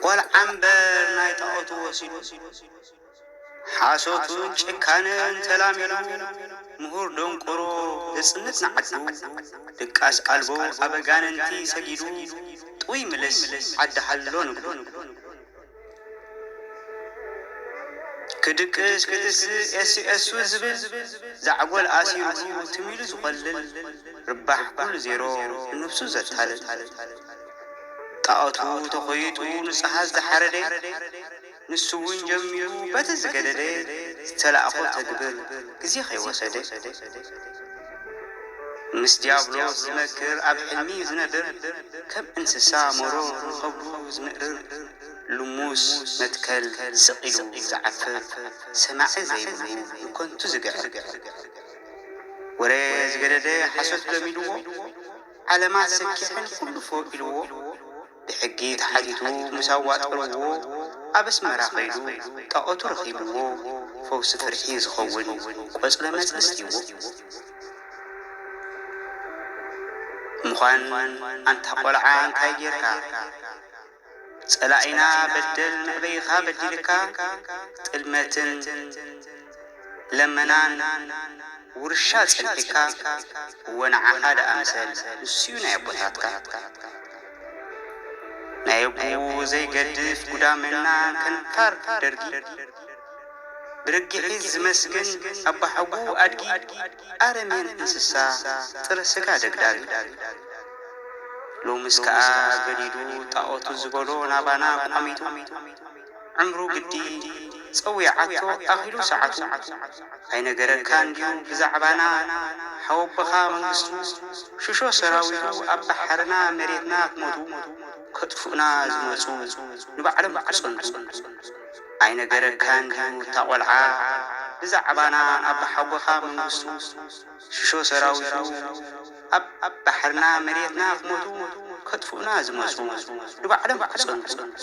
ቆልዓ እምበር ናይ ጣዖቱ ወሲዱ ሓሶቱን ጭካነን ተላሚዱ ምሁር ደንቆሮ ዘጽንት ንዓዱ ድቃስ ኣልቦ ኣብ ኣጋንንቲ ሰጊዱ ጥውይ ምልስ ዓዲ ሃሎ ንግዱ ክድቅስ ክትስእ ኤስኤሱ ዝብል ዛዕጎል ኣሲሩ ትም ኢሉ ዝኮልል ርባሕ ኩሉ ዜሮ ንነብሱ ዘታልል ጣኦቱ ተኮይጡ ንጹሃት ዝሓረደ ንሱ ውን ጀሚሩ በቲ ዝገደደ ዝተላእኮ ተግብር ግዜ ከይወሰደ። ምስ ዲያብሎስ ዝመክር ኣብ ሕልሚ ዝነብር ከም እንስሳ መሮር ንኸብዱ ዝምእርር ልሙስ መትከል ስቕ ኢሉ ዝዓፍር ሰማዒ ዘይብሉ ንከንቱ ዝግዕር ወረ ዝገደደ ሓሶት ለሚድዎ ዓለማት ሰኪሕን ኩሉ ፎእ ኢልዎ ብሕጊ ተሓቲቱ ምስ ኣዋጠርዎ ኣብ ኣስመራ ከይዱ ጣኦቱ ረኺብዎ ፈውሲ ፍርሒ ዝኸውን ቆጽለ መጽልስ ሂብዎ ምዃን ኣንታ ቆልዓ እንታይ ጌርካ ጸላኢና በደል መእበይኻ በዲልካ ጥልመትን ለመናን ውርሻ ጸኒሕካ እወ ንዓኻ ደኣ ምሰል ንሱዩ ናይ ኣቦታትካ ናይ ኣቡኡ ዘይገድፍ ጉዳመና ከንፋር ደርጊ ብርግሒት ዝመስግን ኣባሓጉኡ ኣድጊ ኣረሜን እንስሳ ጥረ ስጋ ደግዳጊ ሎምስ ከኣ ገዲዱ ጣኦቱ ዝበሎ ናባና ቋሚቱ ዕምሩ ግዲ ጸዊዓቶ ኣኺሉ ሰዓቱ ኣይነገረካን ድዩ ብዛዕባና ሓወቦኻ መንግስቱ ሽሾ ሰራዊቱ ኣብ ባሕርና መሬትና ክሞቱ ከጥፉእና ዝመጹ ንባዕሎም ክጸንቱ ኣይነገረካን ድዩ እታ ቆልዓ ብዛዕባና ኣቦሓጎኻ መንግስቱ ሽሾ ሰራዊቱ ኣብ ባሕርና መሬትና ክሞቱ ከጥፉእና ዝመጹ ንባዕሎም ክጸንቱ።